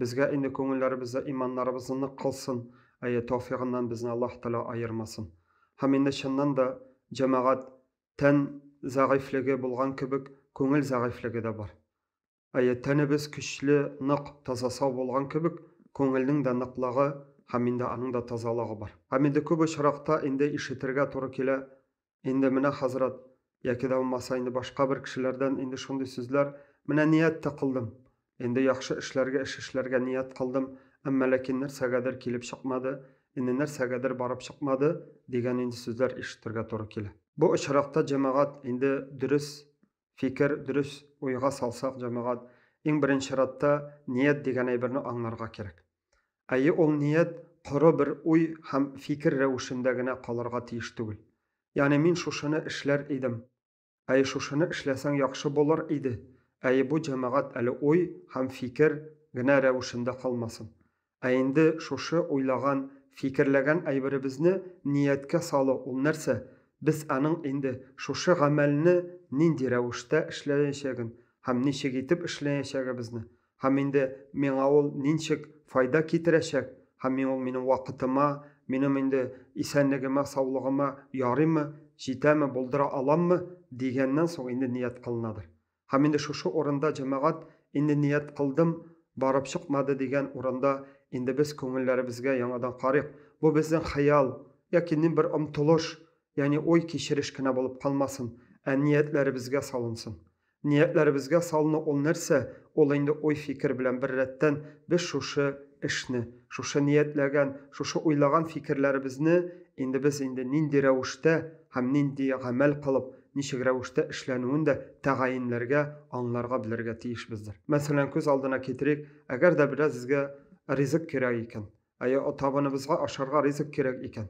Безгә инде күңелләребездә иманнарыбызны нык кылсын, әйе, тәүфигыннан безне Аллаһ Тәгалә аермасын. Һәм инде чыннан да, җәмәгать, тән зәгыйфьлеге булган кебек, күңел зәгыйфьлеге дә бар. Әйе, тәнебез көчле, нык, таза-сау булган кебек, күңелнең дә ныклыгы һәм инде аның да тазалыгы бар. Һәм инде күп очракта инде ишетергә туры килә, Инде менә хәзрәт, яки дә булмаса инде башка бер кешеләрдән инде шундый сүзләр, менә ният тә кылдым. Инде яхшы эшләргә, эш эшләргә ният кылдым, әмма ләкин нәрсәгәдер килеп чыкмады, инде нәрсәгәдер барып чыкмады, дигән инде сүзләр ишетергә туры килә. Бу очракта җәмәгать инде дөрес фикер, дөрес уйга салсак, җәмәгать, иң беренче чиратта ният дигән әйберне аңларга кирәк. Әйе, ул ният коры бер уй һәм фикер рәвешендә генә калырга тиеш түгел. Ягъни мин шушыны эшләр идем, әйе, шушыны эшләсәң яхшы булыр иде, әйе, бу җәмәгать әле уй һәм фикер генә рәвешендә калмасын. Ә инде шушы уйлаган, фикерләгән әйберебезне нияткә салу, ул нәрсә? Без аның инде шушы гамәлне нинди рәвештә эшләячәген һәм ничек итеп эшләячәгебезне, һәм инде миңа ул нинчек файда китерәчәк, һәм миң ул минем вакытыма, минем инде исәнлегемә, саулыгыма ярыймы, җитәме, булдыра аламмы, дигәннән соң инде ният кылынадыр. Һәм инде шушы урында җәмәгать, инде ният кылдым, барып чыкмады дигән урында, инде без күңелләребезгә яңадан карыйк. Бу безнең хыял, яки ни бер омтылыш, ягъни уй, кичереш кенә булып калмасын, ә ниятләребезгә салынсын. Ниятләребезгә салыну ул нәрсә? Ул инде уй-фикер белән беррәттән без шушы эшне, шушы ниятләгән, шушы уйлаган фикерләребезне инде без инде нинди рәвештә һәм нинди гамәл кылып, ничек рәвештә эшләнүен дә тәгаенләргә, аңларга белергә тиешбездер. Мәсәлән, күз алдына китерик, әгәр дә бераз безгә ризык кирәк икән, әйе, табыныбызга ашарга ризык кирәк икән,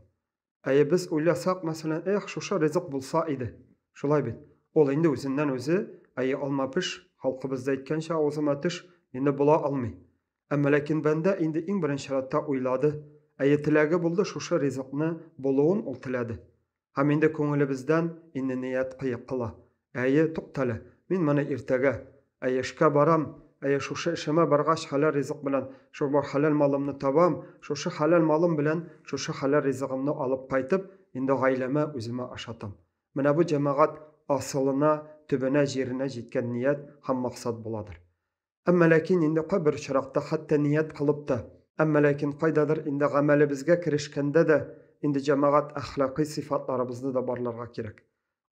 әйе, без уйласак, мәсәлән, эх, шушы ризык булса иде, шулай бит, ул инде үзеннән-үзе, әйе, алма-пеш, халкыбызда әйткәнчә, авызыма төш, инде була алмый. Ә мөлекин бәндә инде иң беренче рәттә уйлады, әйе, теләге булды, шушы ризыкны булуын ул теләде. Һәм инде күңелебездән инният кыек кыла. Әйе, туктале, мин моны иртәгә, Әйе, эшкә барам, әйе, шушы эшемә баргач, хәләл ризык белән шул бар хәләл малымны табам, шушы хәләл малым белән шушы хәләл ризыгымны алып кайтып, инде гаиләмә, үземә ашатам. Менә бу җәмәгать асылына, төбенә, җиренә җиткән ният һәм максат буладыр. Әмма ләкин инде кайбер очракта хәтта ният кылып та, әмма ләкин кайдадыр инде гамәлебезгә керешкәндә дә инде җәмәгать әхлакый сыйфатларыбызны да барларга кирәк.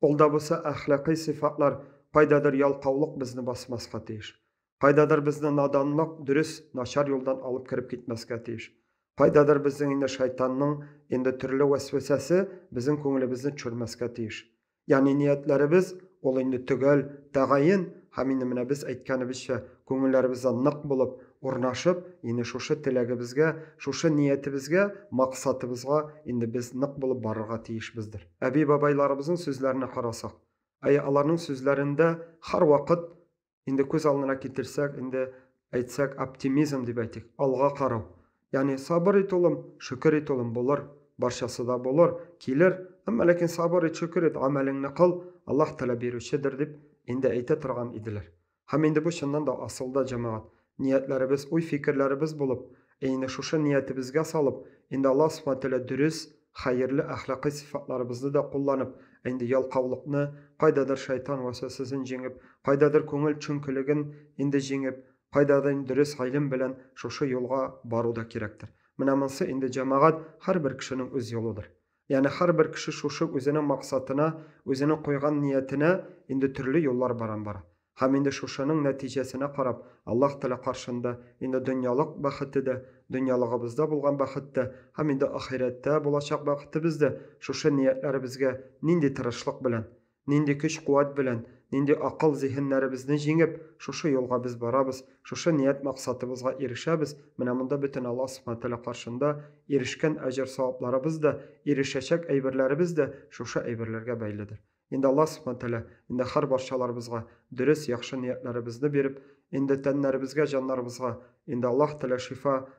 Ул да булса әхлакый сыйфатлар кайдадыр ялкаулык безне басмаска тиеш. Кайдадыр безне наданлык, дөрес, начар юлдан алып кереп китмәскә тиеш. Кайдадыр безнең инде шайтанның инде төрле вәсвәсәсе безнең күңелебезне төшермәскә тиеш. Ягъни ниятләребез, ул инде төгәл, тәгаен, һәм инде менә без әйткәнебезчә, күңелләребездә нык булып, урнашып, инде шушы теләгебезгә, шушы ниятебезгә, максатыбызга инде без нык булып барырга тиешбездер. Әби-бабайларыбызның сүзләренә карасак, әйе, аларның сүзләрендә һәрвакыт инде күз алдына китерсәк, инде әйтсәк, оптимизм дип әйтик, алга карау. Ягъни сабыр ит улым, шөкер ит улым, булыр, барчасы да булыр, килер, әмма ләкин сабыр ит, шөкер ит, амәлеңне кыл, Аллаһ Тәгалә бирүчедер дип инде әйтә торган иделәр. Һәм инде бу чыннан да асылда җәмәгать. Ниятләребез уй-фикерләребез булып, әйне шушы ниятебезгә салып, инде Аллаһ Субхана Тәгалә дөрес, хәерле әхлакый сыйфатларыбызны да кулланып, ә инде ялкаулыкны, кайдадыр шайтан вәсвәсәсен җиңеп, кайдадыр күңел чөнкелеген инде җиңеп, кайдадыр инде дөрес гыйлем белән шушы юлга бару да кирәктер. Менә монсы инде, җәмәгать, һәрбер кешенең үз юлыдыр. Ягъни һәрбер кеше шушы үзенең максатына, үзенең куйган ниятенә инде төрле юллар баран бара. Һәм инде шушының нәтиҗәсенә карап, Аллаһ Тәгалә каршында инде дөньялык бәхете дә, дөньялыгыбызда булган бәхет тә һәм инде ахирәттә булачак бәхетебез дә шушы ниятләребезгә нинди тырышлык белән, Нинди көч-куәт белән, нинди акыл-зиһеннәребезне җиңеп, шушы юлга без барабыз, шушы ният-максатыбызга ирешәбез, менә монда бөтен Аллаһ Субхана Ва Тәгалә каршында ирешкән әҗер-савапларыбыз да, ирешәчәк әйберләребез дә шушы әйберләргә бәйледер. Инде Аллаһ Субхана Ва Тәгалә инде һәр барчаларыбызга дөрес, яхшы ниятләребезне биреп, инде тәннәребезгә, җаннарыбызга инде Аллаһ Тәгалә шифа,